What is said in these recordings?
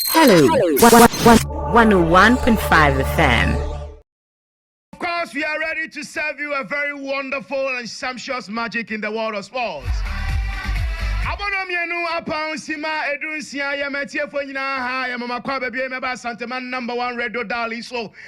Hello, 101.5 FM. Of course, we are ready to serve you a very wonderful and sumptuous magic in the world of sports. Abono mienu apang sima edun sia ya matiefo nyinaa ha ya mama kwa babie meba Santema number one radio dial so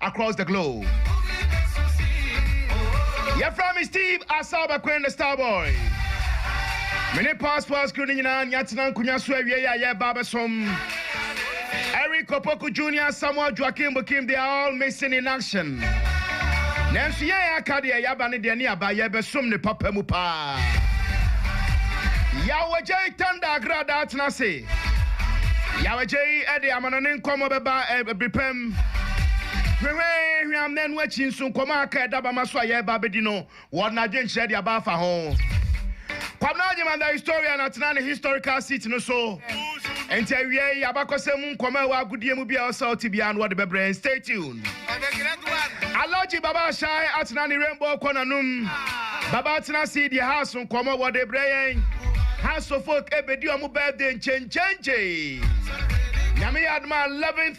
across the globe. Yɛfrɛ me Steve Asaw Bɛkoen the Star Boy. Me ne Past Past crew no nyinaa nea atena nkonnwa so awie yɛ a yɛreba abɛsom. Eric Opoku Junior, Samuel Joaquim Bukim, they are all missing in action. Nanso yɛn a aka deɛ yɛaba ne deɛ ne aba yɛbɛsom ne papa mu paa. Yawajay Tanda Agradaa tena ase. Yawajay de amanɔne nkɔmmɔ bɛba ɛbiripɛm. Hwehwɛhwehwɛam na ɛno akyi nso nkɔmmɔ a aka a ɛda bama so a yɛreba abɛdi no, wɔde n'adwenkyerɛ de aba afa ho. Kwabena Agyeman the historian atena ne historical seat no so, enti awiei abakɔsɛm mu nkɔmmɔ a ɛwɔ agodie mu biara a ɔsɛ sɛ ɔte biara no wɔde bɛbrɛ yɛn. Stay tuned. Alhaji Baba Ashai atena ne rainbow kɔ n'anom. Baba atena ase yi deɛ house nkɔmmɔ wɔde rebrɛ yɛn. House of Folk ɛrebɛdi wɔn birthday nkyenkyenkyee. Nyame yɛ adom a 11th.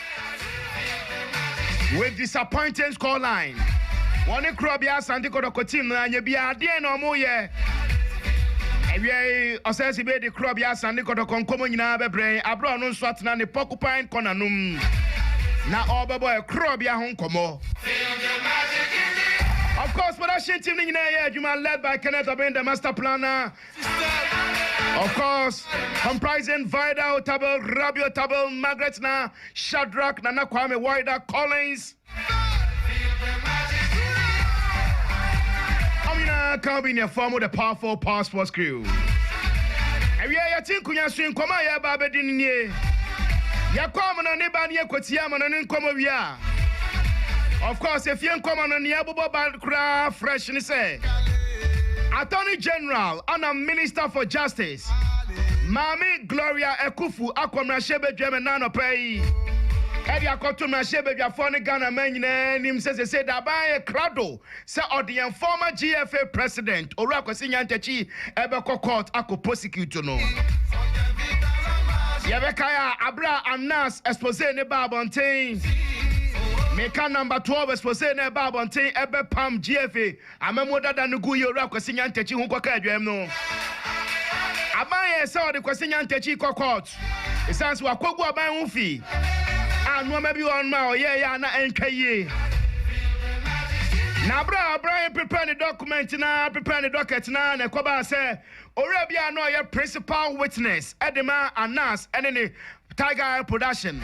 With disappointing scoreline, wɔne Korɔbea Asante Kɔtɔkɔ team no anyɛ biara, deɛn na wɔyɛ? Awia yi, Ɔsɛɛse Bey de Korɔbea Asante Kɔtɔkɔ nkɔmmɔ nyinaa bɛbrɛ yɛn aberɛ a ɔno nso atena ne Porcupine Corner no mu na ɔrebɛbɔ yɛn Korɔbea ho nkɔmmɔ. Of course, production team no nyinaa yɛ adwuma led by Kenneth Obeng, the master planner. Of course, comprising Vida Otabil, Rabi Otabil, Margaret Na, Shadrack, Nana Kwame, Wider, Collins. Wɔn nyinaa ka obi nea fɔm the powerful power sports crew. Awia yɛte nkonya so nkɔmɔ a yɛreba abɛdi no nie. Yɛkɔ amena ne ba ne yɛkɔtie amena ne nkɔmɔ wie a, Of course, efie nkɔmɔ no nea ɛbobɔ ba koraa fresh ne sɛ Attorney General ana Minister for Justice Maame Gloria Akufu akɔ mmarahyɛbadwam ɛna anɔpa yi ɛde akɔto mmarahyɛbadwafoɔ ne Ghana man nyinaa anim sɛ sesei Daban yɛ krado sɛ ɔde yɛn former GFA president Owura Kwasi Nyantakyi bɛkɔ court akɔ prosecute no. Yɛbɛkae a aberɛ a Anas expose ne baa abɔnten, meka number 12 expose na ɛbaa abɔnten ɛbɛpam GFA amammuo dada no gu yɛ Owura Kwasi Nyantakyi ho kɔka adwaam no, aban yɛɛ sɛ ɔde Kwasi Nyantakyi kɔ court. Esiane sɛ wakogu aban ho fi a nneɛma bi wɔ hɔnom a ɔyɛe a na ɛntwa yie, na bere a ɔbran repepɛ ne dɔkumɛnti no ara, repepɛ ne dɔkɛt no ara na ɛkɔbaa sɛ owura bi a na ɔyɛ principal witness de ma Anas ne ne Tiger Eye Production,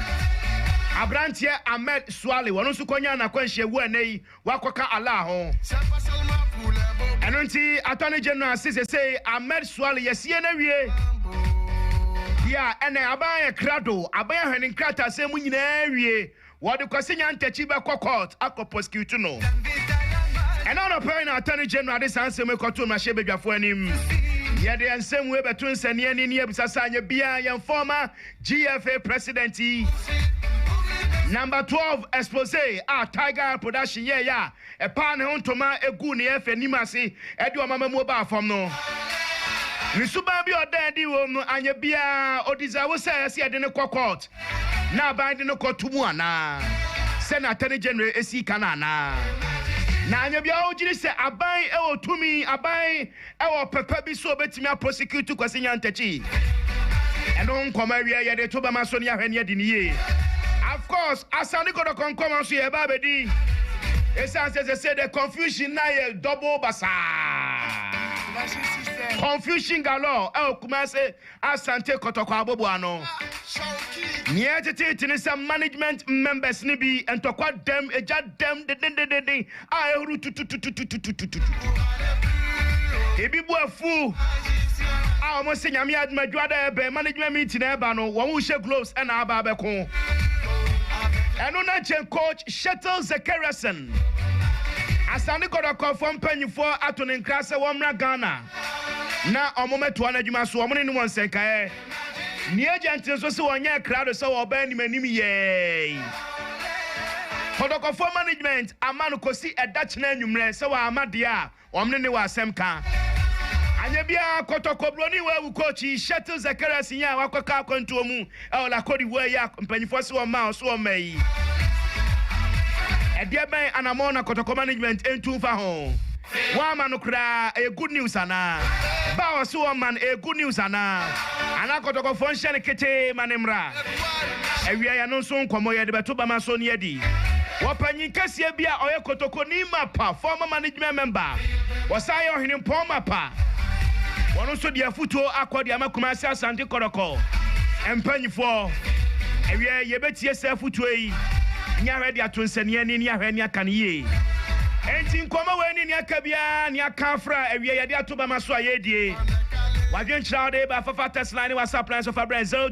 aberanteɛ Ahmed Suale, ɔno nso kɔnyaa n'akwanhyia wu ɛnnɛ yi. woakɔka Allah ho. Ɛno nti Attorney General se sesei Ahmed Suale yɛasie no awie. Deɛ a ɛnɛ aban ayɛ krado, aban ahwɛ ne nkrataasɛm mu nyinaa awie. Wɔde Kwasi Nyantakyi bɛkɔ court akɔ prosecute no. Ɛnɛ anɔpa yi na Attorney General de saa nsɛm yi kɔtoo mmarahyɛbadwafoɔ anim. Yɛde yɛn nsɛm wei bɛto nsɛnneɛne ne yɛabisa sɛ anyɛ biara yɛn fɔɔma GFA president yi. Number twelve expose a Tiger Eye production yɛeɛ a ɛpaa ne ho ntoma guu ne yɛfrɛ anim ase de wɔn amammuo baa fam no, ne suban bi a ɔdaa adi wom no anyɛ biara a ɔdeserve sɛ ɛsɛ sɛ yɛde no kɔ court na aban de no kɔto mu anaa? Sɛnea Attorney General sii ka no anaa? Na anyɛ biara a ɔgyiri sɛ aban wɔ tumi, aban. ɛwɔ papa bi sɛ ɔbɛtumi apɔsikiutu Kwasi Nyantakyi. Ɛno nkɔmɔ awieɛ yɛde to bɛma so ne ahwɛ ne adi no yie. Of course Asante Kɔtɔkɔ nkɔmɔ nso yɛreba abɛdi ɛsiane sɛ sɛsei deɛ confusion no ayɛ double basaa. Confusion galore ɛwɔ Kumase. Asante Kɔtɔkɔ abɔbu ano. Nea ɛteteete ne sɛ management members no bi ntɔkwa dɛm, egya dɛm dendendendennden a ahuru tututututututututu. Ebi bo afu a wɔn se Nyame adom a dwuada a ɛbɛn management meeting a ɛba no wɔn rehyɛ gloves na aba abɛko. Ɛno na nkyɛn coach Shetel Zekariasen, Asante Kɔtɔkɔfoɔ mpanyinfoɔ ato ne nkra sɛ wɔmmra Ghana. na wɔmɛtoa no adwuma so, wɔne no wɔ nsɛnkaɛ. Nea agya ntene so se wɔnyɛɛ krado sɛ wɔbaa anim anim yɛɛe. Kɔtɔkɔfoɔ management ama no kɔsi ɛda kyena anwummerɛ sɛ wamma deɛ a wɔne no wɔ asɛm ka. Anyɛ biara, kɔtɔkɔbroni wɔ awu kɔɔkyi, Shettle Zacharias nyaa wakɔka akwantuo mu ɛwɔ La Côte d'Ivoire yi a mpanyimfoɔ se wɔmmaa wɔn so wɔn mma yi. Ɛdeɛ bɛn anammɔn na Kɔtɔkɔ management ntu mfa ho? Wɔamma no koraa, ɛyɛ good news anaa? Ba a wɔse wɔmma no, ɛyɛ good news anaa? Anaa Kɔtɔkɔfoɔ nhyɛ no ketee ma no mmra? Awieeɛ ɛno nso nkɔmmɔ, yɛde bɛto bɛma so ne adi. Wɔpanyin kɛseɛ bi a ɔyɛ Kotokoni Mapa former management member, wɔsan yɛ Ɔhene Mpɔn Mapa, Wɔn nso de afutuo akɔ de ama Kumasi Asante Kɔrɔkɔ mpaninfoɔ. Ɛwiɛ yɛbɛtie saa afutuo yi ne ahwɛ de ato nsɛneɛ ani ne ahwɛ ne aka no yie. Enti nkɔmmɔ wei ne nea aka biara ne aka afra ɛwiɛ yɛde ato bama so a yɛredie. W'adwenkyerɛ a wode ba fafa text line ne WhatsApp line so fa brɛ 0244.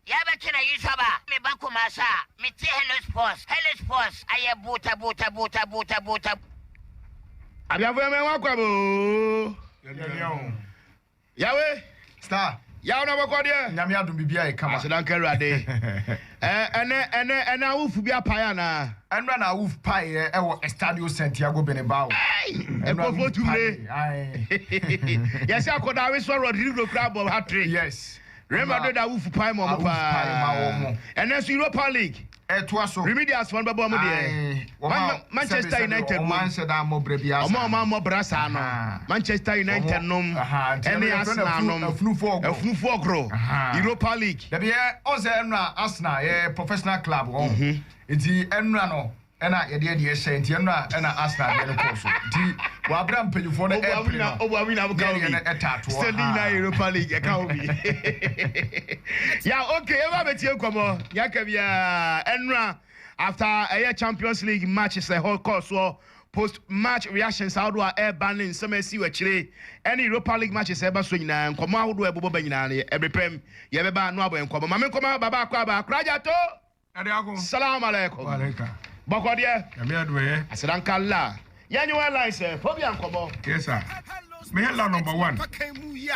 Yɛ bɛtwe na Yusuf ba me ba Kumasi a me te Hellos Pos Hellos Pos ayɛ buuta buuta buuta buuta buuta. Abiafo yɛmɛ wa kwa bɛ oo. Yawe. Star. Yaw na bɔkɔ deɛ. Nyame adum bibi ayɛ kama. Aseda nka awurade. Ɛ ɛnɛ ɛnɛ ɛnɛ awufu bi apae anaa. Ɛnura na awuf pae yɛ ɛwɔ Estadio Santiago Benebao. Ɛy ɛkɔfo tumire. Yɛsi akɔda awi sɔ Rodrigo kura abɔ hat trick. Yes. Real Madrid awofo pae ma wɔn paa. Ɛnnɛ nso Europa League. Ɛtoa so. Remedials wɔn bɛbɔ wɔn deɛ. Manchester United wom. Wɔn a wɔammɔ bra saa no. Manchester United nom. Ɛne Arsenal nom. Afunufoɔ ɔgoro. Europa League. Dabi ɛ, ɔn sɛ ɛnura Arsenal yɛ professional club ɔn. Nti ɛnura no ɛna yɛdeɛ deɛ hyɛ nti ɛno na ɛna Arsenal deɛ no kɔɔ so nti wabra mpanyinfoɔ no ɛpere no obu awi na aboka obi ɛtaatoɔ standing nyinaa ah. Europa League ɛka obi ya okay ɛwɔ abɛtie nkɔmɔ nyaka bia ɛnura after ɛyɛ Champions League matches ɛhɔ kɔɔ soɔ post match reactions ahodoɔ a ɛreba ne nsɛm ɛsi wɔ akyire ɛne Europa League matches ɛreba so nyinaa nkɔmɔ ahodoɔ ɛbobɔ ba nyinaa no ɛbrepɛm yɛbɛba no abɔ nkɔmɔ maame nkɔmɔ babaako a baakora gyato. Salaam alaikum. Bɔkɔ deɛ. Nyame adoɛɛ. Aseda nka Allah. Yɛ nye wɔ airlines ɛ. Phobia nkɔmɔ. Yes sir. Me yɛ la number one.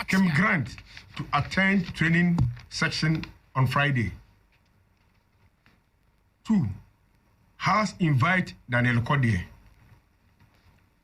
Kim Grant to attend training section on Friday. Two. House invite Daniel kɔ deɛ.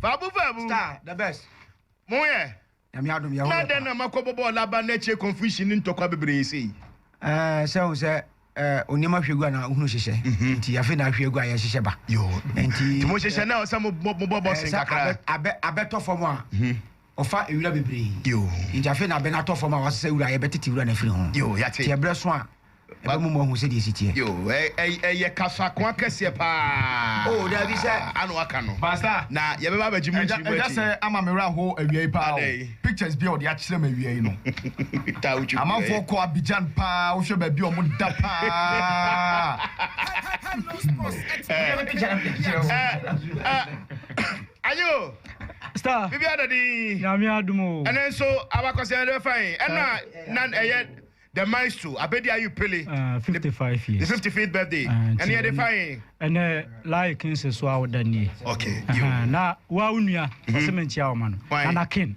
Faabu faabu. Star the best. Mo yɛ. Nyame adom yɛ hɔ yɛ paa. Na dɛn na makɔ bɔbɔɔ laba na akyire confusion ne ntɔkwa bebree sei. Ɛɛ sɛ wo sɛ ɛɛ onneɛma hwɛ gu a na ohunu hyehyɛ. Nti afei na ahwɛ gu a yɛhyehyɛ ba. Yoo. Nti. Nti mo hyehyɛ na ɔsɛ mo bɔ mo bɔ bɔsen kakra. Ɛɛ sɛ abɛ abɛ abɛtɔ fam a. Ɔfa nwura bebree. Yegyafee n'abɛ no atɔ fam a, wasesa wura a, yɛbɛtete wura no afiri ho. Nti ɛberɛ so a, ɛbɛmom wɔahu sɛdeɛ ɛsi teɛ. Yo, ɛy, ɛyɛ kasakoa kɛseɛ paa. Oh, daabi, sɛ. Ana waka no. Pastor. Na yɛbɛba abɛgye mo nkyiri mu akyi. Ɛda sɛ ama me werɛ ahoɔ awia yi paa o. Adɛn? Pictures bi a ɔde akyerɛ me awia yi no. Taa wotwi gu ɛ. Amanfoɔ kɔ Abidjan paa, wohwɛ baabi a wɔn da paa. Ɛɛ, ɛɛ, ɛɛ. Aye o! Star! Biribiara da dinn. Nyame adom o! Ɛnnɛ nso abakɔsɛm yɛde bɛfa yɛn ɛna na ɛyɛ The Maestro Abedi Ayew Pele ne 55th birthday ɛne yɛde fa yɛn. Ɛnɛ Laye Kings so a woda nie. Okay. Yo. Ɛhɛn, na wo a wo nua ɔse menkyea wo ma no. Hwan? Nana King.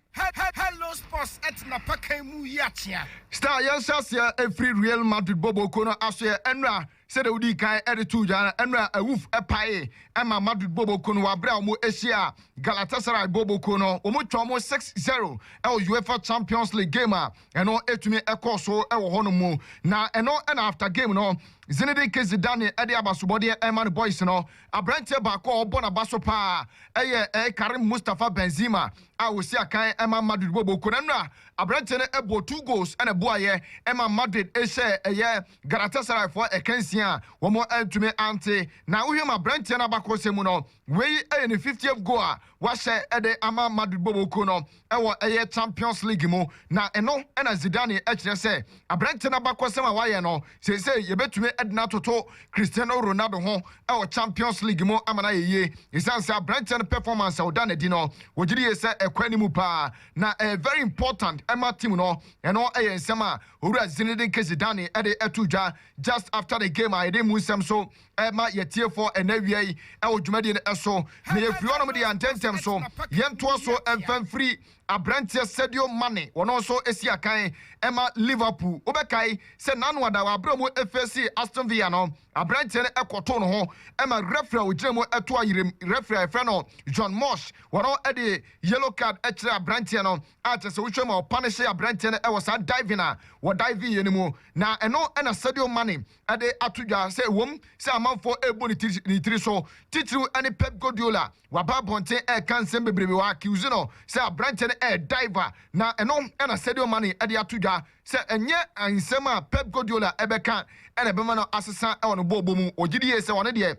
Hello sports ɛte na pakan mu yi akyea. Star yɛn hyɛ aseɛ ɛfiri Real Madrid bɔ bɔkuo no asoɛ ɛnora sɛdeɛ wodii kan ɛde too dwa no ɛnora awuf ɛpaee ɛma Madrid bɔ bɔkuo no wɔ abere a wɔn ɛhyia Galatasaray bɔ bɔkuo no wɔn twa wɔn 6-0 ɛwɔ Uefa Champions League game a ɛno ɛtumi ɛkɔɔ so ɛwɔ hɔ no mu na ɛno ɛna after game no Zinedine Zidane ɛde abasobɔdeɛ ɛma no boys no aberanteɛ baako a ɔbɔ n'aba so paa ɛyɛ ɛɛ Karim Mustafa Benzema a ɔsii akan maa Madrid wɔ Boko no na aberanteɛ no bɔɔ two goals na ɛboaeɛ maa Madrid hyɛɛ ɛyɛ Galatasaray foɔ ɛkansie a wɔantumi ante. Na wohwɛ mu a aberanteɛ no abakɔsɛm mu no, wei yɛ ne fiftieth goal a wahyɛ de ama Madrid bɔ Boko no wɔ ɛyɛ Champions League mu. Na ɛno na Zidane kyerɛ sɛ aberanteɛ no abakɔsɛm a wayɛ no, Seesei yebetumi de no atoto Cristiano Ronaldo ho wɔ Champions League mu ama no ayɛ yie. Esiane sɛ aberanteɛ no performance a ɔda no adi no, wɔgye die sɛ ɛkɔ anim paa, na ɛyɛ very important ma team no. Ɛno yɛ nsɛm a Owura Zinedine Zidane de too dwa just after the game a yɛde mmu nsɛm so ma yɛatiefoɔ ɛnnɛ awia yi wɔ dwumadie no so. Na yɛfiri hɔnom deɛ a, ntɛntɛm so yɛntoa so mfa mfiri aberanteɛ Sadio Mane, ɔno nso si akan ma Liverpool. Wobɛkae sɛ n'ano ada wɔ aberɛ a wɔfeesii Aston Villa no, aberanteɛ no kɔtoo ne ho ma referee a ɔgyina mu to ayerɛm, referee a yɛfrɛ no John Morsh, ɔno de yellow card kyerɛɛ aberanteɛ no, a kyerɛ sɛ wohwɛ mu a ɔpanehyee aberanteɛ no wɔ saa diving a ɔdiving yɛ no mu, na ɛno na Sadio Mane de ato dwa sɛ ɛwom sɛ amanfo rebu ne ti ne tiri so, titiriw ɛne Pep Guardiola, waba abɔnten reka nsɛm bebrebe, wa accuse no sɛ aberanteɛ no yɛ diver, na ɛno na Sadio Mane de ato dwa sɛ ɛnyɛ nsɛm a Pep Guardiola bɛka na ɛbɛma no asesa wɔ ne bɔɔlbɔ mu, ɔgye di yie sɛ ɔno deɛ,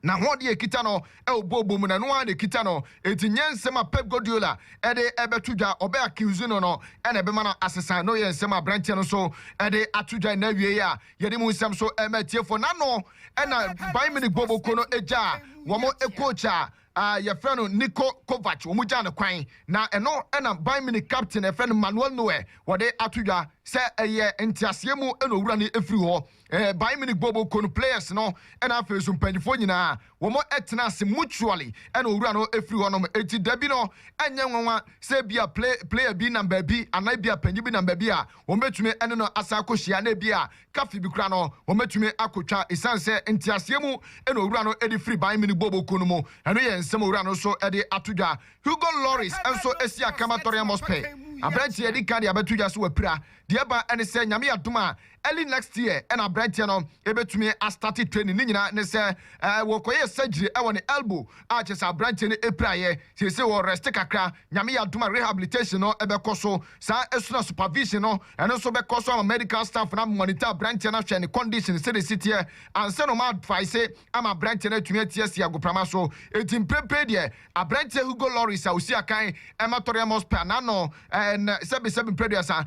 N'ahoɔden a ɛkita no wɔ bɔɔlbɔ mu no, ɛno ara na ɛkita no. Enti nyɛ nsɛm a Pep Guardiola de rebɛto dwa, ɔbɛ accuse no no, na ɛbɛma no asesa. Ɛno yɛ nsɛm a aberanteɛ no nso de ato dwa nnɛ awiei a yɛde mu nsɛm so rema atiefoɔ. N'ano na Bayern Munich bɔɔlbɔkuo no gyaa wɔn coach a yɛfrɛ no Niko Kovac, wɔgyaa no kwan. Na ɛno na Bayern Munich captain a yɛfrɛ no Manuel Neuer, wɔde ato dwa sɛ ɛyɛ nteaseɛ mu na ɔwura no firi hɔ. Ɛɛ Bayern Munich bɔɔ bɔkɔ no players no ɛna afei nso mpanyinfoɔ nyinaa wɔn ɛtena ase mutually ɛna owura no ɛfiri hɔ nom ɛnti dabi no ɛnyɛ nwanwa sɛ ebia play player bi nam baabi anaa ebia panyin bi nam baabi a wɔn bɛtumi ɛne no asan akɔ hyia na ebia cafe bi kora no wɔn bɛtumi akɔ twa ɛsiane sɛ nteaseɛ mu ɛna owura no ɛde firi Bayern Munich bɔɔ bɔkɔ no mu ɛno yɛ nsɛm owura no nso ɛde ato dwa Hugo Lloris nso ɛsi akama Tottenham Hotspur aberanteɛ ɛdi kan de abɛto dwa sɛ wapira deɛ ɛba ɛne sɛ Nyame adom a early next year na abranteɛ no bɛtumi a starte training, ne nyinaa ne sɛ wɔkɔyɛɛ surgery wɔ ne elbow a kyerɛ sɛ abranteɛ no piraeɛ, seesei wɔ rest kakra, Nyame yɛ adom a rehabilitation no bɛkɔ so, saa nso na supervision no ɛno nso bɛkɔ so ama medical staff no a monitor abranteɛ no ahwɛ ne condition sɛdeɛ ɛsi teɛ ansa na wɔn a advice ama aberanteɛ no atumi ate asi agoprama so. Enti mprempren deɛ, aberanteɛ Hugo Lloris a ɔsi akan ma Tottenham Hotspur a n'ano nnɛ sɛbesɛbe mprɛduasa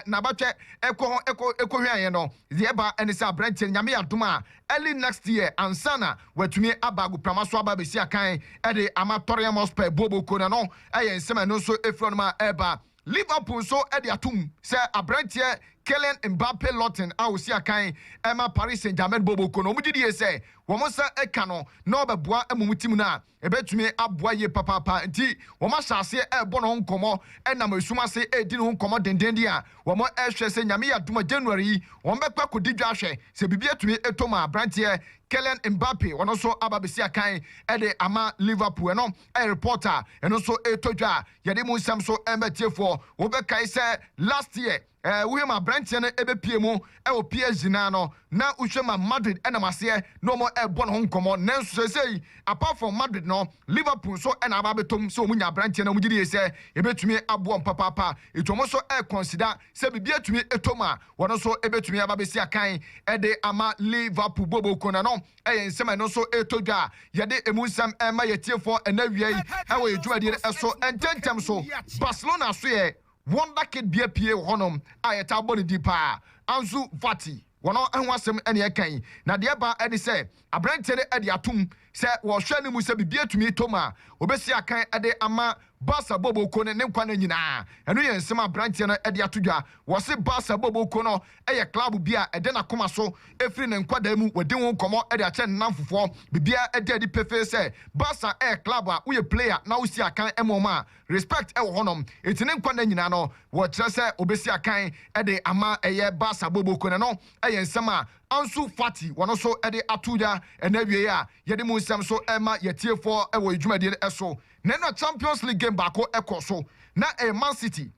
n'abatwɛ kɔ ho kɔhweaeɛ no, deɛ ɛba ne sɛ aberanteɛ no, Nyame yɛ adom a, early next year ansa na watumi aba agoprama so aba abɛsi akan de ama Tottenham Hotspur. Booboo Kone no yɛ nsɛm a ɛno nso firi hɔnom a ɛreba. Liverpool nso de atom sɛ aberanteɛ Kylian Mbappe Lorton a ɔsi akan ma Paris Saint-Germain bɔ bɔkɔ no, wɔgye di yie sɛ wɔn nsa ka no na ɔbɛboa mmom tim no a ɛbɛtumi aboa yie papaapa nti wɔahyɛ aseɛ rebɔ ne ho nkɔmmɔ nam esum ase redi ne ho nkɔmmɔ dendeenden a wɔhwɛ sɛ Nyame yɛ adom a January yi wɔbɛkɔ akɔdi dwa ahwɛ sɛ biribi atumi atɔ mu a aberanteɛ Kylian Mbappe ɔno nso aba abɛsi akan de ama Liverpool ɛno yɛ report a ɛno nso ɛretɔ dwa a Yɛde mu nsɛm so ma atiefoɔ. Wobɛkae sɛ last year eh, wohwɛ ma aberanteɛ no ɛbɛpie mu wɔ PSG no a no, na wohwɛ ma Madrid nam aseɛ na wɔn ɛrebɔ ne ho nkɔmmɔ. Nanso seesei apart from Madrid no, Liverpool nso na aba abɛtom sɛ wɔn nya aberanteɛ no a wɔn gye die sɛ ɛbɛtumi aboa wɔn papaapa. Nti wɔn nso ɛrekɔnsida sɛ biribi atumi ɛtɔ mu a, wɔn nso ɛbɛtumi aba abɛsi akan de ama Liverpool booboo ko no ano. Ɛyɛ nsɛm a ɛno nso ɛretɔ dwa a yɛde emu nsɛm rema yɛn atiefoɔ ɛnnɛ awia yi wɔ yɛn dwumadie no so. Ntɛntɛm so, Barcelona so yɛ wonderkid bea pie wɔ hɔnom a yɛtaa bɔ ne din pa ara, Ansu Fati. Wɔn ho asɛm na yɛreka yi, na deɛ ɛba ara ne sɛ aberanteɛ no adi atom sɛ wɔrehwɛ no mu sɛ biribi atumi atɔ mu a, ɔbɛsi akan de ama Baasa Bobo Ko no ne nkwa nna nyinaa. Ɛno yɛ nsɛm a aberanteɛ no de ato dwa. Wɔse Baasa Bobo Ko no yɛ club bi a ɛda n'akoma so firi ne nkwadaa mu. Wadi ho nkɔmmɔ de akyerɛ ne nnamfofoɔ. Biribiara da adi pefee sɛ Baasa yɛ club a woyɛ player na wosi akan ma wɔn a, respect wɔ hɔnom. Enti ne nkwa nna nyinaa no, wɔkyerɛ sɛ ɔbɛsi akan de ama ɛyɛ Baasa Bobo Ko no. Ɛno yɛ nsɛm a Ansu Fati wɔn nso de ato dwa. Ɛna awiei a yɛde mu nsɛm nso rema yɛn atiefoɔ wɔ yɛn dwumadie no so. Na na Champions League game baako kɔ so, na ɛyɛ Man City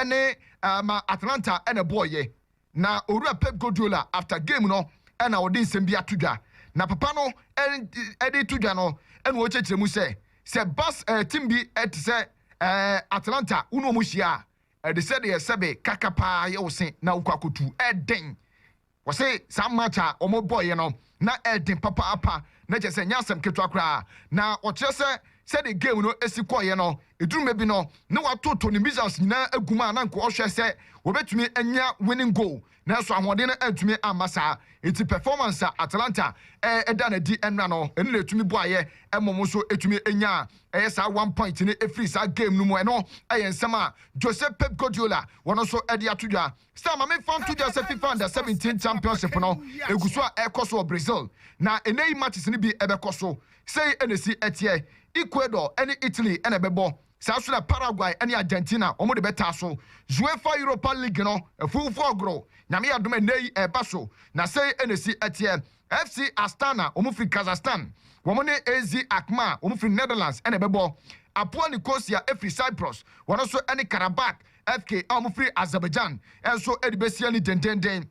ne um Atalanta na ɛbɔeɛ. Na Owura Pep Guardiola after game no na ɔde nsɛm bi ato dwa. Na papa no um de to dwa no na ɔrekyerɛkyerɛ mu sɛ, sɛ Bas um team bi te sɛ um Atalanta wo ne wɔn hyia a, ɛde sɛdeɛ sɛbe kaka paa yɛ wo se na wokɔ akɔtu. Ɛdɛn? Wɔse saa march a wɔn bɔeɛ no na ɛɛden papaapa na kyerɛ sɛ ɛnyɛ asɛm ketewa koraa na wɔkyerɛ sɛ sɛdeɛ game no si kɔeɛ no ɛduru mmerɛ bi no na wɔatoto ne missiles nyinaa agu mu a na anka wɔhwɛ sɛ wɔbɛtumi anya winning goal nanso ahoɔden no antumi amma saa nti performance a Atalanta ɛda no adi ɛnna no ɛno na ɛtumi boaeɛ ma wɔn nso ɛtumi nyaa ɛyɛ saa one point no ɛfiri saa game no mu ɛno ɛyɛ nsɛm a Jose Pep Guardiola wɔn nso ɛde ato dwa Star, ma memfa nto dwa sɛ Fifa Under 17 Championship no gu so a ɛrekɔ so wɔ Brazil, na nnɛ yi matches no bi bɛkɔ so. Sei na esi teɛ, Ecuador ne Italy na ɛbɛbɔ, saa nso na Paraguay ne Argentina wɔn de bɛtaa so. Uefa Europa League no afuwufo ɔgoro, Nyame adom a nnɛ yi ɛreba so, na sei na esi teɛ, FC Astana wɔn firi Kazakhstan, wɔn ne AZ Alkmaar wɔn firi Netherlands na ɛbɛbɔ, Apoel Nicosia firi Cyprus wɔn nso ne Qarabag FK a wɔfiri Azerbaijan nso de bɛsia ni dendeenden.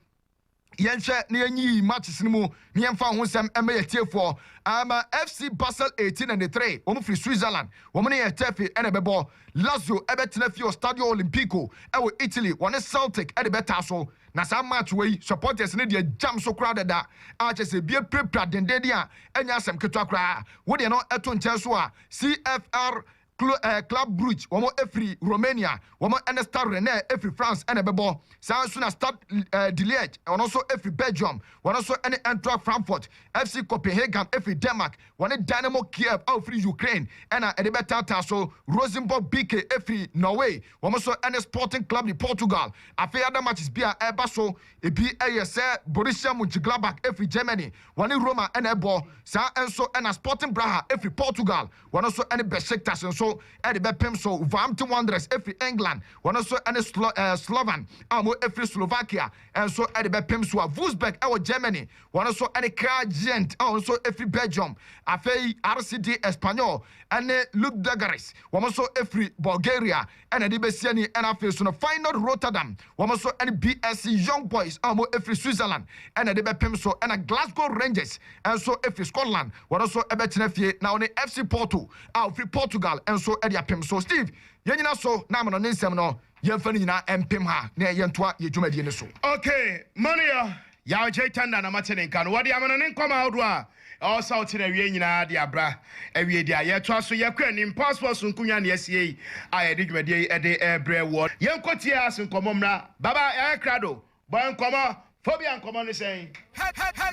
Yɛnhwɛ na yɛnyiyi matches no mu na yɛmfa ho nsɛm mma yɛn atiefoɔ. Ama FC Basel 1893, wɔfiri Switzerland, wɔn ne Getafe na ɛbɛbɔ. Lazio bɛtena fie wɔ Stadio Olimpico wɔ Italy, wɔne Celtic de bɛtaa so. Na saa match wei, supporters no deɛ gyam so koraa dada a, kyerɛ sɛ ebi apirapira dendeenden a ɛnyɛ asɛm ketewa koraa. Wo deɛ no to nkyɛn so a, CFR Clo eh, Club Brugge, wɔn firi Romania, wɔn ne Stade Rennais firi France na ɛbɛbɔ. Saa ara nso na Stade eh, de Liège, ɔno nso firi Belgium, wɔn nso ne Eintracht Frankfurt. FC Copenhagen firi Denmark, wɔne Dynamo Kiev a ɔfiri Ukraine na ɛde bɛtaataa so. Rosenborg BK firi Norway, wɔn nso ne Sporting Club de Portugal. Afei other matches bi a ɛreba so, ebi yɛ sɛ Borussia Mönchengladbach firi Germany, wɔne Roma na ɛbɔ. Saa ara nso na Sporting Braha firi Portugal, wɔn nso ne Besiktas nso de bɛpem so. Wolverhampton Wanderers firi England, wɔn nso ne Slo eh, Slovan a wɔfiri Slovakia nso de bɛpem so. A Wolfsburg wɔ Germany, wɔn nso ne Kral Gent a wɔn nso firi Belgium. Afei RCD Espanyol ne Ludogorets, wɔn nso firi Bulgaria. ɛna ɛde bɛsi ani ɛna afei so no Feyenoord Rotterdam wɔn nso ɛne BSC Young Boys a wɔn ɛfiri Switzerland ɛna ɛde bɛpem so ɛna Glasgow Rangers nso ɛfiri Scotland wɔn nso ɛbɛtena fie na wɔne FC Porto a ɔfiri Portugal nso ɛde apem so Steve yɛnyina so na amanɔne nsɛm no yɛmfa no nyinaa ɛmpem ha na yɛntoa yɛ dwumadie no so. Okay, Mania. Yaw Gyei Tanda na mate ne nka no. Wɔde amano ne nkɔmɔ ahodoɔ a ɛwɔ sɛ wote no awie nyinaa de abra awie di a yɛtoa so yɛkɔ anim. Pulse World Sonku Nnwa na yɛasie yi a yɛde dwumadie yi de rebrɛ woɔ. Yɛnkɔ tie Ass nkɔmɔ mmra. Baba yɛayɛ krado. Bɔ nkɔmɔ. Phobia nkɔmɔ ne sɛn?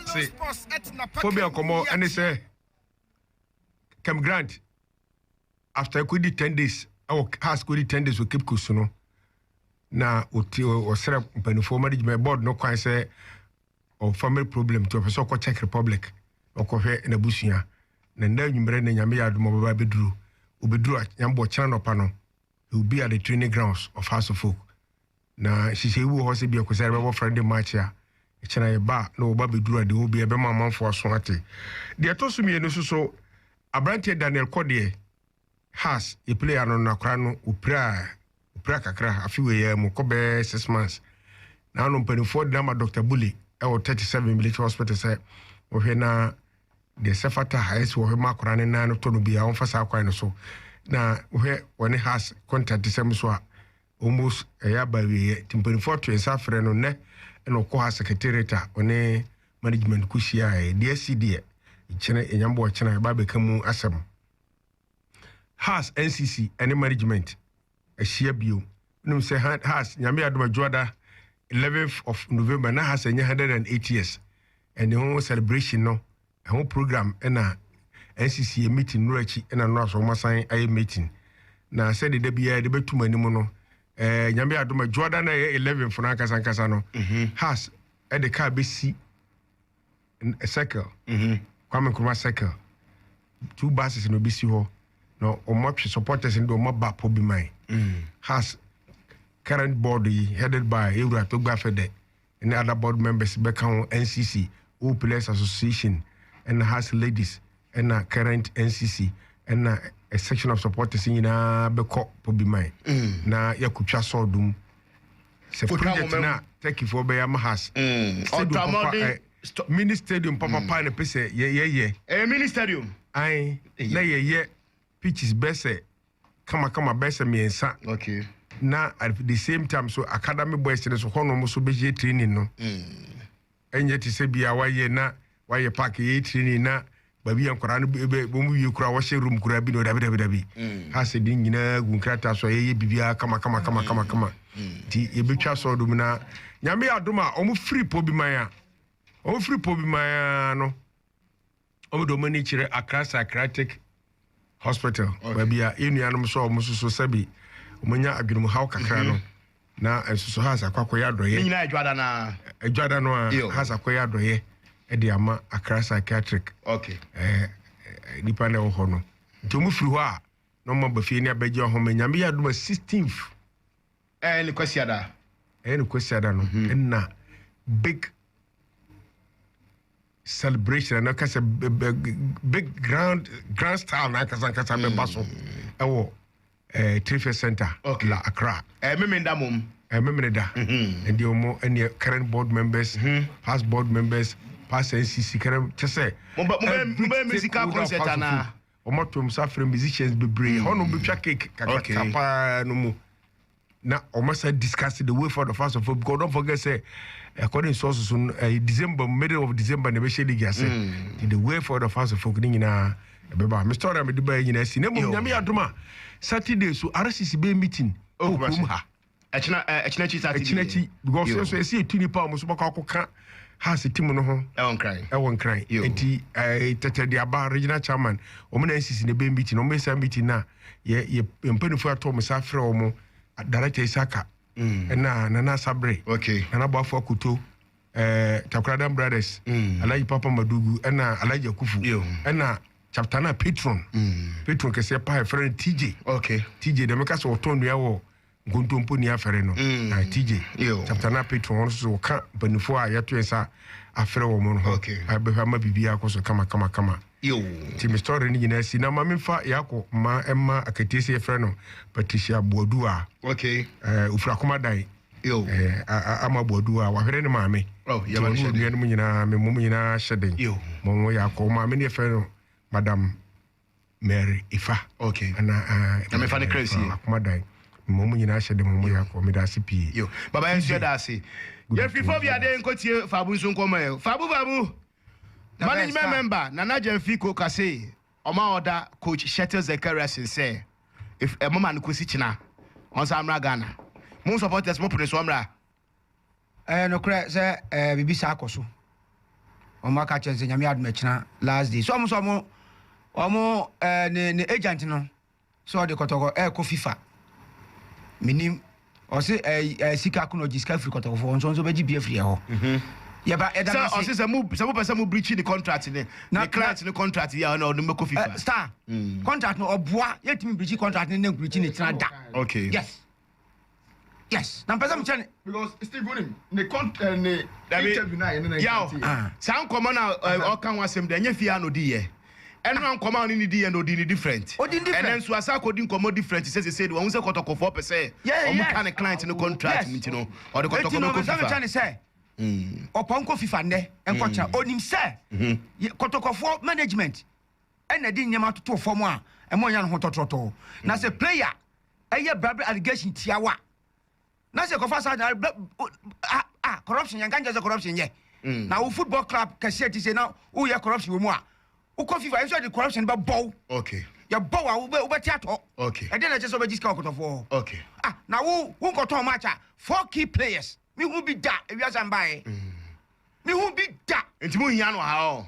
Se phobia nkɔmɔ ne sɛ Kem Grant. after ekodi ten days ɛwɔ house kodi ten days wɔ cape coast no na ɔti ɔsrɛ mpanimfoɔ management board no kwan sɛ ɔ family problem nti ɔpɛ sɛ ɔkɔ czech republic ɔkɔhwɛ n'abusua na nna anwummerɛ na nyame yɛ adom ɔbɛba bɛduru obɛduru nyambɔ kyena nɔpa no he will be at the training grounds of house of folk Na nhyehyɛe bi wɔ hɔ sɛ ebia Kwasida yɛbɛbɔ Friday March a, ɛkyɛ na yɛba a na wɔba bɛduru a, deɛ ɛwɔ biara ɛbɛma amanfoɔ aso ate. Deɛ ɛtɔ so mmienu nso so, aberanteɛ Daniel Kɔ deɛ, Hearts, yɛplay ano no, akwadaa no, ɔpiraa, ɔpiraa kakra, afe wei ara mu, kɔ bɛyɛ six months. Na ano mpanimfoɔ de no ama Dɔkta Bule wɔ thirty seven Military Hospital sɛ wɔhwɛ na deɛ ɛsɛ fata a ɛsɛ wɔhwɛ ma akwadaa no nan no tɔ no biara, wɔmfa saa kwan no so. Na wohwɛ wɔne Hearts kɔntaktesɛm nso a, almost ɛyɛ aba awieɛ nti mpanimfoɔ to nsa frɛ no nnɛ ɛna ɔkɔ ha secretariat a ɔne management kɔ hyiaeɛ deɛ asi deɛ kyerɛ ɛnyame bɔ ɔkyena ɛba bɛka mu asɛm has ncc ɛne management ahyia bio wonim sɛ has nyame adom adwoada 11th of november na has ɛnyɛ 108 years ɛne ho celebration no Ɛho program na asisi yɛ meeting nnora akyi na nnora so wɔn asan ayɛ meeting na sɛde da biara de bɛtum anim no ɛɛ nyame adom adwoada na ɛyɛ eleven fo no ankasa ankasa no mhm. has ɛde kaa bɛsi circle mhm. Kwame Nkrumah circle two buses na obɛsi hɔ na wɔn atwe supporters no de wɔn aba pɔ bi man mhm. has current board yi headed by ewura to gba fɛ dɛ ne other board members bɛka ho, NCC, Old Players Association, ɛna Hearts Ladies, ɛna current NCC, ɛna a section of supporters nyinaa bɛkɔ Pobiman na yɛakɔtwa sɔɔdom sɛ Kɔtwa project momam. no a Turkeyfoɔ bɛyɛ ama Hearts. Mm, Stadium ɔtɔ papa, mmɔden eh, st- mini stadium papapa na pɛ sɛ yɛ- yɛyɛ. ɛyɛ mini stadium Ae, Ɛyɛ. na yɛyɛ pitches bɛsɛ kamakama bɛyɛ sɛ mmiɛnsa okay na at the same time so academy boys no so hɔnom so bɛyɛ training no mm. ɛnyɛ te sɛ bia wayɛ na wayɛ park yɛ training na baabi yɛ nkwadaa no bɛ wɔn wie kura wɔhyɛ room kura bi na ɔdabi dabi dabi mm. ha sɛ de nyinaa gu nkrataa so a yɛyɛ biribiara kama kama kama kama mm. kama nti yɛbɛtwa sɔɔ dom na nyame adom a wɔn firi pɔ bi man a wɔn firi pɔ bi man a no. wɔde wɔn ani kyerɛ Accra Psychiatric Hospital, baabi a yɛn nuanom sɛ wɔn nso so sɛbi wɔnya adwenemhaw kakra no, mm-hmm. na nso so Hans akɔ akɔyɛ adɔyɛ. Ne nyinaa adwada no a. Adwada no a Hans akɔyɛ adɔyɛ de ama Accra Psychiatric. Okay. Eh, nipa na ɛwɔ hɔ no nti ɔmo firi hɔ a na ɔmo aba fie ne abɛgye ɔhoma nyame yɛ adoma sixteenth ɛyɛ ne kwasiada ɛyɛ ne kwasiada no mhm. ɛna big celebration no kasa big grand grand style na kasa kasa bɛ ba so mm. ɛwɔ ɛɛ eh, trade center okay. la Accra. ɛɛ eh, mímí da mom. ɛɛ eh, mímí da. Mm-hmm. ɛdi ɔmo ɛni current board members mm-hmm. past board members past NCC current kyesɛ. mo bɛ mo bɛ mo bɛ musical concert ana. ɔmo ato ɔmo sa fere musicians bebree hɔnom bɛ twa cake kakra paa no mu. na wɔn san discuss the way forward of us of because don't forget say according to us so uh, december middle of december na ɛbɛhyɛ league ase mm. the way forward of us folk ne nyinaa ɛbɛba me story a mede baɛ nyinaa si na mmom nyame yɛ adom a saturday so rcc bɛɛ meeting ɔkurom oh, ha ɛkyena ɛkyena akyi saturday ɛkyena akyi because ɛso ɛsi etu nipa a wɔn nso bɛkɔ akɔka House ti mu no ho ɛwɔ nkran ɛwɔ nkran eti ɛɛ tɛtɛ de aba regional chairman wɔn na nsisi na ebe meeting na wɔn esa meeting na yɛ yɛ mpanyinfoɔ ato wɔn sa afrɛ wɔn director isaka ɛna mm. nana asabre okay. nana boafo akoto ɛɛ takoradan brothers mm. alaji papa madugu ɛna alaji akufu ɛna chapter na patron mm. patron kɛseɛ paa ɛfrɛ no tj okay. tj dɛm kasa ɔtɔn nua wɔ. Nkontompo ni afɛre no na TJ chapter na patron wɔn so wɔka mpanyinfoɔ a yɛto nsa afɛre wɔn no ho abɛhwɛ ama biribi akɔ so kama kama kama nti me story no nyinaa si na ma memfa yɛakɔ ma ɛma akatie sɛ yɛfrɛ no Patricia Boadu a ofiri akomadan ama Boadu a wahwere ne maame nti wɔn nuanom nyinaa me mmom nyinaa hyɛ den ma wɔn yɛ akɔ maame ne yɛfrɛ no madam Mary Ifa. Okay. Ana a. Na me fa ne kra sie. Akoma dan. Mo mo nyinaa hyɛ de mo mo yɛ akɔ. Meda ase pii. Yo. Baba yɛn nso da ase. Yɛn firi fɔ bi aden nko tie Fabu nso nkɔ mɔ yɛ. Fabu Fabu. Management member Nana Gyamfi ko ka se ɔma ɔda coach Shettle Zekariasen sɛ if ɛmoma no kosi kyena ɔnsan mmra Ghana. Mo supporters mo pene so ɔmmra. Ɛyɛ nokorɛ sɛ ɛɛ biribi saa kɔ so. Wɔn aka kyerɛ sɛ nyame adum ɛkyina last day. So wɔn sɛ wɔn wɔn ɛɛ ne ne agent no sɛ ɔde kɔtɔkɔ ɛɛkɔ FIFA. Minim ɔsi ɛɛ ɛɛ sika ko na ɔgye sika firi kɔtɔkɔfo wɔn nso nso bɛgye bi afiri ɛhɔ. Yɛba yɛda no ase. Sɛ ɔsi sɛ mo sɛ mo pɛ sɛ mo breach ne contract ne ne client ne contract yɛ a ɔna ɔde mo bɛkɔ FIFA. Star contract no ɔboa yɛtumi breach contract ne ne breach ne kyina da. Okay. Yes. yes na mpɛ sɛ mekyerɛ ne because steve wonim ne con eh, ne Dabi. interview no a yɛne no Yaw, nkanteɛ Ah. saa nkɔmmɔ no a ɛ, ɔka ho asɛm dɛ ɛnyɛ fie a na ɔdi yɛ. Ɛno a nkɔmmɔ a ɔne ne di yɛ na ɔdi ne different. Ɔdi ne different. Ɛnɛ nso asa akɔdi nkɔmmɔ different sɛ sesei de wɔn sɛ kɔtɔkɔfoɔ pɛ sɛ Yeah, wɔn yes. ka ne client no contract Yes. mu nti no ɔde Eti kɔtɔkɔ no no ɔbɛ sɛ mekyɛ kɔ ne fifa. sɛ ɔpɔn kɔ fifa nnɛ nkɔkyerɛ onim sɛ yɛ- kɔtɔkɔfoɔ management na ɛde nneɛma toto fam a, ɛma ɔnya ne ho tɔtrɔtɔ. Na sɛ player yɛ bra bra allegation tia wo a, na sɛ ɛkɔfa saa na bra ah ah corruption yɛn ka nkyɛn sɛ corruption yɛ. Mm. Na wo football club kɛseɛ ti sɛ na woyɛ corruption wɔ mu a, wokɔ FIFA nso de corruption bɛ bɔw. Okay. Yɛ bɔw a wobɛ wobɛte atɔ. Okay. Ɛdeɛ na ɛkyɛ sɛ wobɛgye sika ɔkɔtɔfoɔ. Okay. Ah na wo wo nkɔtɔn match a four key players mihu bi da ewiase anbaeɛ. Mm. Mihu bi da. Nti mo hia no ha o.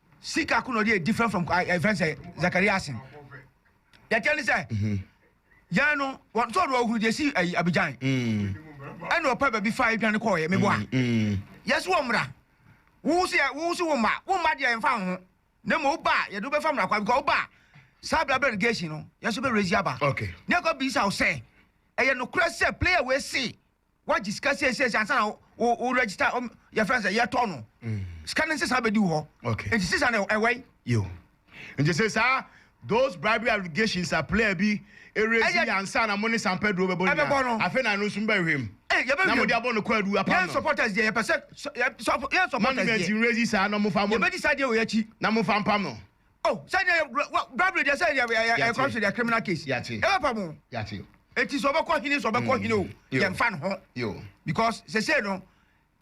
Sika ko na ɔde yɛ different from ɛ fɛn sɛ Zakaria asen. Yɛ kyɛ ne sɛ yɛn no wɔn sɔɔ do ɔhuru deɛ si ɛyi Abidjan. Ɛna ɔpɛ baabi fa edwane kɔɔ yɛ mebɔ a. Yɛ so wɔ mmara. Wo so yɛ wo so wo mma wo mma deɛ yɛn fa ho. Na mmom wo ba a yɛde wobɛfa mmara kwa because wo ba saa bla bla negation no yɛn so bɛ raise aba. Okay. Ne yɛ kɔ bisa wo sɛ ɛyɛ nokorɛ sɛ player wei se Woagye sika siesie ansa na wo wo register um, yɛfrɛ no sɛ yɛtɔ no. Mm. Sika no nsesa bɛdi wo hɔ. Okay. Nti sisa no ɛwɔ yi. Yo. Nti sɛ saa those bribery allegations a player bi erezi yɛ ansa na mo ne Sampa Duro bɛbɔ nyinaa. Afei na ɛno nso mbɛhwɛ mu. Hey, yɛbɛhwɛ mu. Na mo de abɔ no kwaadu apam no. Yɛn supporters deɛ yɛpɛ sɛ yɛn supporters deɛ. Mo ne mɛnti rezi saa na mo fa mo. Yɛbɛdi saa deɛ wɔ yɛn akyi. Na mo fa mpam no. Oh, sɛdeɛ yɛ, wɔ, wɔ, Bible deɛ sɛ yɛ, yɛ, yɛ, yɛ kɔ so deɛ criminal case. Yate. Ɛbɛ pa mo. Yate. Eti sɛ ɔbɛkɔ hene sɛ ɔbɛkɔ hene o, Yo. yɛn fa ne ho. Yo. Because sese no,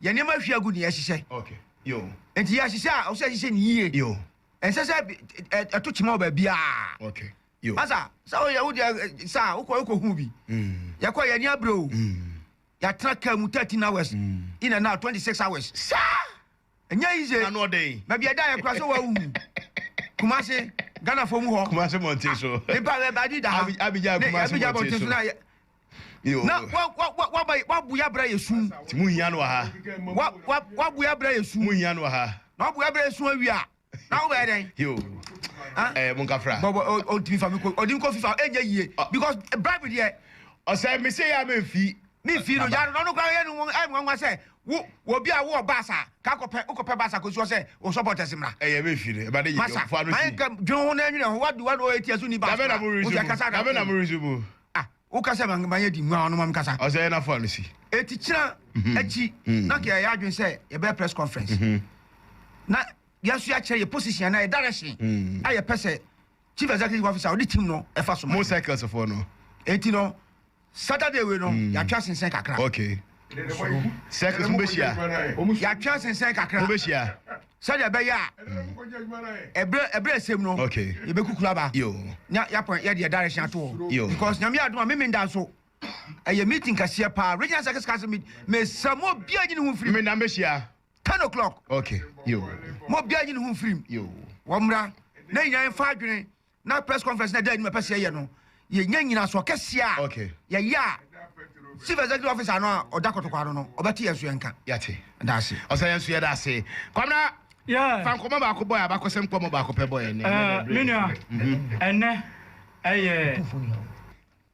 yɛn nneɛma ahwi agu ne yɛhyehyɛ. Okay. Yo. Eti yɛhyehyɛ a, ɔsɛ yɛhyehyɛ ne yie. Yo. Ɛnsɛ sɛ bi- ɛ- ɛ- ɛto kyema wɔ baabiara. Okay. Yo. Asa, sɛ woyɛ wo deɛ ɛ, sɛ a, wokɔ wokɔ hu bi. Mm. Yɛkɔ yɛn ani abere o. Mm. Yɛatena kaa mu 13 hours. Mm. In and out 26 hours. Saa! Ɛnyɛ yize. Ano ɔden. Baabi a ɛda yɛ kura sɛ wawu. Kumasi, Ghanafoɔ mu hɔ. Kumasi mmɔnten so. Nipa bɛɛ baa bi da ha. Abidjan Kumasi mmɔnten so. Na wabu yɛ abira yɛ sum. Ti mu hia no wɔ ha. Wabu yɛ abira yɛ sum. Mu hia no wɔ ha. Na wabu yɛ abira yɛ sum awia. Na wo bɛyɛ dɛn? Yo. Ah. Eh, mo nkafra. Bɔbɔ o o ntumi fa mi ko ɔdi nkɔ fifa ɛnyɛ yie because bribe deɛ. Ɔsɛ mi se ya mi nfi. Mi nfi no ya no ɔno kura yɛ no wɔn ɛyɛ nwanwa sɛ wo wɔ bi a wo wɔ baasa ka kɔ pɛ wokɔ pɛ baasa ko suɔ sɛ o supporters mra. Ɛyɛ mi nfi no ɛba de yi yɛ fa no si. Masa mayɛ nkɛ dwene ho na ɛnwene ho wa di wa na o eti ɛso ni baasa. Dabe na mo resubu. Dabe na mo resubu. Ah. Wo ka sɛ ma ma yɛ di nguan ɔno ma mi kasa. Ɔsɛ yɛ na fɔ no si. Eti kyina akyi na kɛ yɛ yɛ adwene sɛ yɛ bɛyɛ press conference na yɛ nso yɛ akyerɛ yɛ position anaa yɛ direction a yɛ pɛ sɛ chief executive officer ɔde team no ɛfa so ma yɛ. Mo cycles fɔ no. Eti no Saturday wei no yɛ atwa sensɛn kakra. Okay. soro. Circus, mubehyia. Yɛatwe ase nsɛn kakra. Mubehyia. Sɛdeɛ ɛbɛyɛ a, ɛberɛ ɛberɛ ɛsɛm no. Okay. Yɛbɛkukuru aba. Yo. Na yɛapɔn yɛ deɛ direction ato hɔ. Yo. Because nyame adum a me menda nso. Ɛyɛ meeting kɛseɛ paa. Regional Circus Council meet. Mesa mo bia nyi ne ho mfirim. Menda mbɛhyia. Ten o'clock. Okay. Yo. Mo bia nyi ne ho mfirim. Yo. Wɔmmra. Na nyinaa mfa adwene. na press conference na ɛda anim a ɛpɛ sɛ yɛyɛ no yɛnya nyinasoɔ kɛseɛ a Okay. yɛyɛ a chief executive officer no a ɔda kɔtɔkɔ ano no ɔbɛte yɛn so yɛn ka Yɛate. da ase Ɔsɛ yɛn nso yɛda ase. Kwamina, Yeah. fa nkɔmmɔ baako bɔ yɛn, abakɔsɛm nkɔmmɔ baako pɛ bɔ yɛn nnɛ. Ɛɛ, me nua, ɛnɛ ɛyɛ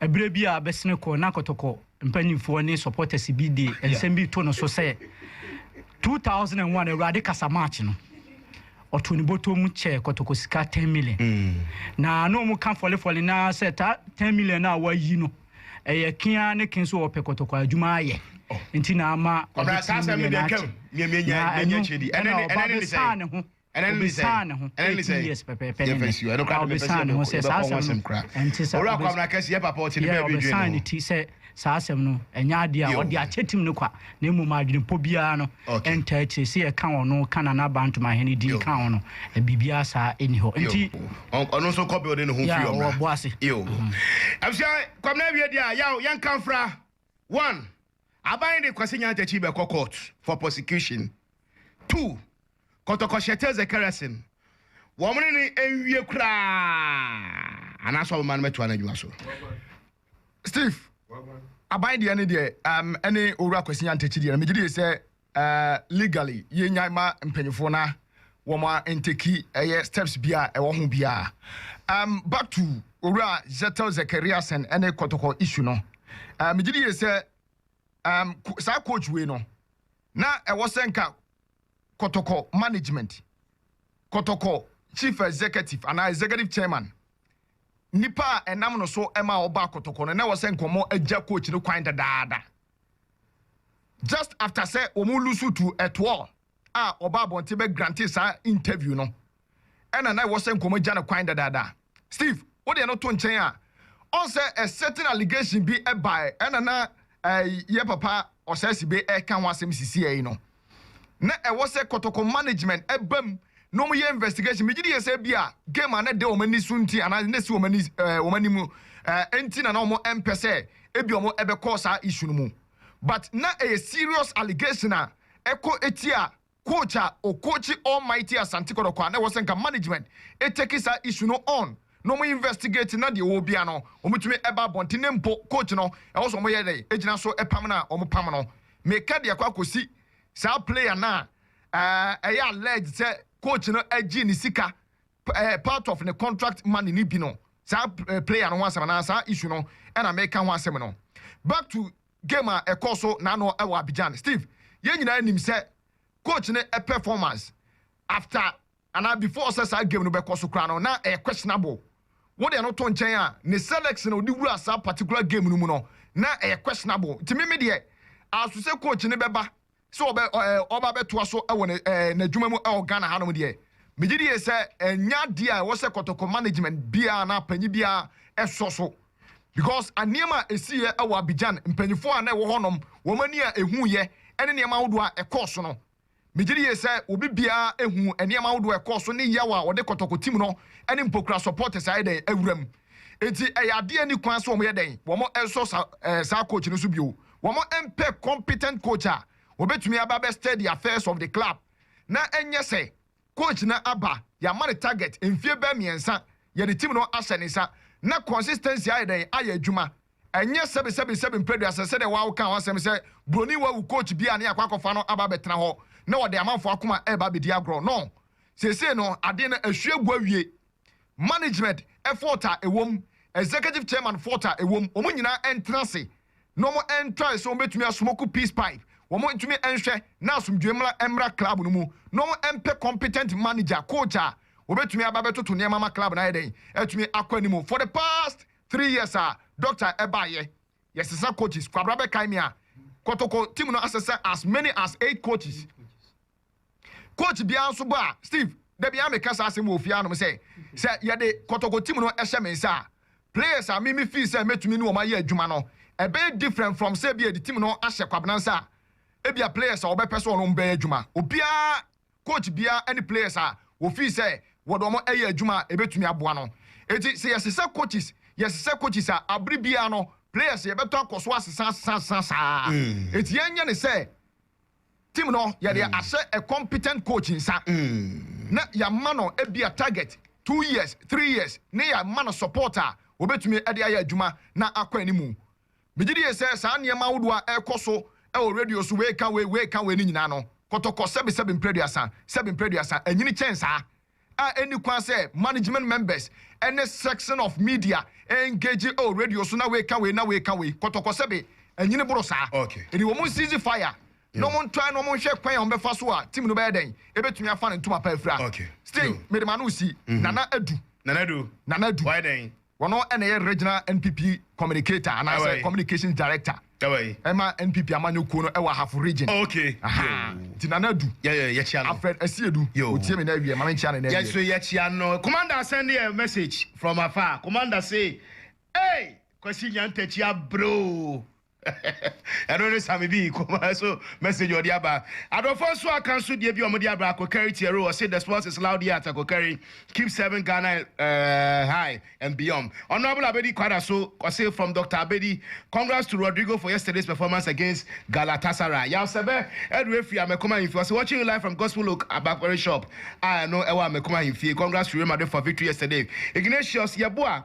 Ɛberɛ bi a bɛsene kɔ na Kɔtɔkɔ mpaninfoɔ ne supporters bi de nsɛm bi to no so sɛ 2001 Awurade kasa march no ɔtoo ne bɔtɔ mu kyɛɛ Kɔtɔkɔ sika 10 million mm. na na ɔmo ka fɔlefɔle na sɛ ta 10 million a wayi no ɛyɛ kea ne ken so ɔpɛ Kɔtɔkɔ adwuma ayɛ oh. nti na ama ɔde 10 million akyɛ na ɛno ɛna ɔba bɛsaa ne ho Obesaa ne ho, eighteen years pɛpɛɛpɛ ne nnɛ. Haa obesaa ne ho sɛ saa asɛm no ɛnte saa. Obes yeah, ɔbesaa ne ti sɛ saa asɛm no ɛnyɛ adeɛ a ɔde akyɛ tim no kwa, na mmom adwenepɔ biara no ɛntaa akyire. Sɛ yɛka ɔno, ka Nana Aba Ntomahen din ka ho no, biribiara saa nni hɔ. Nti, yeah, ɔwɔ bo ase. Aban de Kwasi Nyantakyi Takyi bɛkɔ court for prosecution. Two, Kɔtɔkɔ Hyɛtɛ Zekereson, wɔn ne no nwie koraa anaasɛ wɔbɛma no mɛtoa n'adwuma so. Steve, Aban deɛ no deɛ ɛne Owura Kwasi Nyantakyi deɛ no megye die sɛ Eh legally yɛ nyan ma mpanyinfoɔ na wɔn a nteki ɛyɛ steps bi a ɛwɔ ho biara ehm back to owura Zetel Zekariasen ɛne kɔtɔkɔ issue no eh me gye di yie sɛ ehm saa coach wei no na ɛwɔ sɛ nka kɔtɔkɔ management kɔtɔkɔ chief executive anaa executive chairman nipa a ɛnam no so ɛma ɔba kɔtɔkɔ no na ɛwɔ sɛ nka wɔn agya coach no kwan dadaada. just after sɛ wɔn lusu tu ɛtoɔ a ɔbaa abɔnten bɛ grante saa interview no ɛna na ɛwɔ sɛ nkɔmɔ gya no kwan dadaada Steve wo deɛ no to nkyɛn a ɔn sɛ a certain allegation bi ɛbaɛ ɛna na ɛɛ yɛ papa Ɔsɛɛsebe ɛɛka ho asɛm sisiɛi no. na ɛwɔ sɛ kɔtɔkɔ management ba mu na wɔn yɛ investigation. Megye di yɛ sɛ ebi a game a na ɛda wɔn ani so nti anaa na esi wɔn ani ɛɛ wɔn anim no ɛɛ nti na na wɔn mpɛ sɛ ebi a wɔn ɛbɛkɔ saa issue no mu but na ɛyɛ serious allegation a ɛkɔ etia coach a ɔcoachi almighty Asante kɔtɔkɔ a na ɛwɔ sɛ nka management etake saa issue no on. na wɔn investigate na deɛ ɔwɔ biara no wɔtumi ba abɔnten na mpo court no ɛwɔ sɛ wɔyɛ dɛn gyina so pam no a wɔn pam no meka deɛ ɛkɔ akɔsi saa player no a ɛyɛ alleged sɛ coach no agye ne sika part of ne contract money no bi no saa player no ho asɛm anaa saa issue no ɛna meka ho asɛm no back to game a ɛkɔ so na ano ɛwɔ Abidjan Steve yɛn nyinaa nim sɛ coach no performance after Anaa before sɛ saa game no bɛkɔ so koraa no na ɛyɛ questionable. Wo deɛ no to nkyɛn a, ne selection a ɔde wuraa saa particular game no mu no na ɛyɛ questionable. Nti me me deɛ aso sɛ coach no bɛba sɛ ɔbɛ ɛɛ ɔba bɛtoa so wɔ ne ɛɛ n'adwuma mu ɛwɔ Ghana hanom deɛ, megye die sɛ ɛnyɛ adeɛ a ɛwɔ sɛ kɔtɔkɔ management biara anaa panyin biara ɛsɔ so. Because nneɛma a ɛsiiɛ ɛwɔ Abidjan, mpanyinfoɔ a na ɛwɔ hɔnom, wɔn ani a ɛhuuiɛ ɛne nneɛma ahodoɔ a ɛkɔɔ so no, Migye no yie sɛ obi biara ahu nneɛma ahodoɔ a ɛkɔɔ so ne yaw a wɔde kɔtɔkɔ tim no ne mpokura supporters ayɛ dɛn awura mu. Enti ɛyɛ adeɛ a ɛnni kwan sɛ wɔyɛ dɛn, wɔsɔ saa saa coach no so bio. Wɔmpɛ competent coach a ɔbɛtumi aba abɛ steady affairs of the club na ɛnyɛ sɛ coach no aba, yɛama no target, mfie bɛyɛ mmiɛnsa yɛde team no ahyɛ ne nsa, na consistency ayɛ dɛn? Ayɛ adwuma. Ɛnyɛ sɛbesɛbesɛbe mprɛduasa sɛdeɛ wo ara wokaa ho asɛm sɛ buroni wawu coach bi a ne yɛakɔ akɔfa no aba abɛtena hɔ na ɔde amanfoɔ akoma reba abɛdi agorɔ. No, seesei no adeɛ no ahwie agu awie. management fault a ɛwom, executive chairman fault a ɛwom, wɔn nyinaa ntena ase na wɔn ntrae sɛ wɔbɛtumi asmoke peace pipe, wɔn ntumi nhwɛ na asomdwoe mmra mmra club no mu, na wɔn mpɛ competent manager, coach a wɔbɛtumi aba abɛtoto nneɛma ama club no ayɛ dɛn? Atumi akɔ anim. For the past three years a Doctor ɛbaeɛ, yɛsesa coaches, Kwabra bɛkae me a, Kotoko team no asesa as many as eight coaches. Coach biara nso bɔ a, Steve, da biara meka saa asɛm wɔ ofie hanom sɛ, sɛ yɛde kɔtɔkɔ team no hyɛ me nsa a, players a me me feel sɛ mɛtumi ne wɔn ayɛ adwuma no, ɛbɛyɛ different from sɛ ebia yɛde team no ahyɛ Kwabena nsa a, ebia players a wɔbɛpɛ sɛ wɔne wɔn bɛyɛ adwuma, obiara, coach biara ne players a wɔ feel sɛ wɔde wɔn yɛ adwuma a ɛbɛtumi aboa no. Enti sɛ yɛsesa coaches, yɛsesa coaches a, abere biara no, players yɛbɛtɔ akɔ so asesa, asesa, asesa saa ara. Enti yɛnyɛ no sɛ. Team no yɛde ahyɛ a competent coach nsa na yɛama no ebia target two years, three years ne yɛama no support a obetumi de ayɛ adwuma na akɔ anim. Megye die sɛ saa nneɛma ahodoɔ a ɛrekɔ so wɔ radio so wei ka wei, wei ka wei no nyinaa no, kɔtɔkɔ sɛbesɛbe mprɛduasa, sɛbe mprɛduasa, anyini kyɛn saa. a enni kwan sɛ management members ne section of media engage wɔ radio so na weka wei na weka wei. Kɔtɔkɔ sɛbe anyini boro saa. Enti wɔn ncease fire na wɔn ntry na wɔn nhwɛ kwan a wɔn bɛfa so a team no bɛyɛ dɛn ebetumi afa ne ntoma pa afira. Sting, mede m'ano resi Nana Adu. Nana Adu. Nana Adu. Wayɛ dɛn? Ɔno na ɛyɛ Regional NPP Communicator anaasɛ Communications Director ma NPP amanyɔ kuo no wɔ Ahafo Region. Nti Nana Adu, Alfred Asiedu, ɔtie me na awie, ma me nkyea no na awie. Yɛso yɛkyea no. Commander send a message from afar. Commander say, Ei! Kwasi Nyantakyi abrɛ oo. Ɛno ne Sammy B kɔmaa so message ɔde aba. Adɔfoɔ nso aka nso deɛ bi ɔmo de aba Akokari Tiaro ɔse the sports is loud here at Akokari keep serving Ghana eh high and beyond Honourable Abedi Quadra so ɔse from Doctor Abedi congrats to Rodrigo for yesterday's performance against Galatasaray Yaw Sɛbɛ Adu Efiri Amekom Ahemfie ɔse watching you live from Gospel Oak Bakpare shop a ɛno ɛwɔ Amekom Ahemfie congrats to Real Madrid for victory yesterday Ignatius Yeboah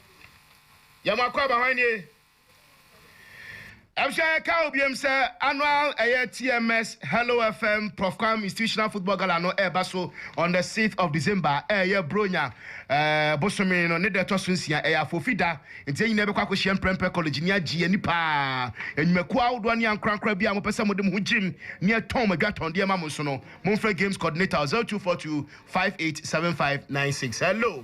Yɛ mo akwaaba hwan nie? Ɛmhyɛ ɛka wo biom sɛ annual ɛyɛ TMS Hello FM Prof Kwame Institutional Football Gala no ɛɛba so on the sixth of December ɛɛyɛ Buronya ɛɛ bosome no ne da ɛtɔ so nsia ɛyɛ Afofi da nti yɛn nyinaa bɛkɔ akɔhyia mprɛmprɛ college ni agye ani paa nnwumakuo ahodoɔ ne ankorankora bi a mopɛ sɛ mode mo ho gyem ne ɛtɔn mo adwatɔndeɛ ma mo nso no momfrɛ games coordinator 0242 587596 hello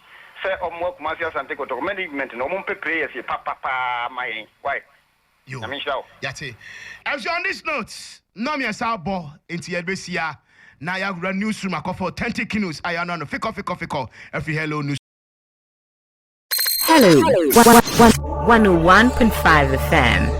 sɛ ɔmoa Kumasi Asante Kotoko management no ɔmo mpɛ players papa paa ma yɛn wai Yo, Nyame nhyira wo. yɛate. Ɛfiri on this note na mmiɛnsa abɔ nti yɛde bɛsia na yɛawura news room akɔfa authentic news a yɛanoa no fikɔ fikɔ fikɔ afiri Hello News. Hello, 101.5 FM.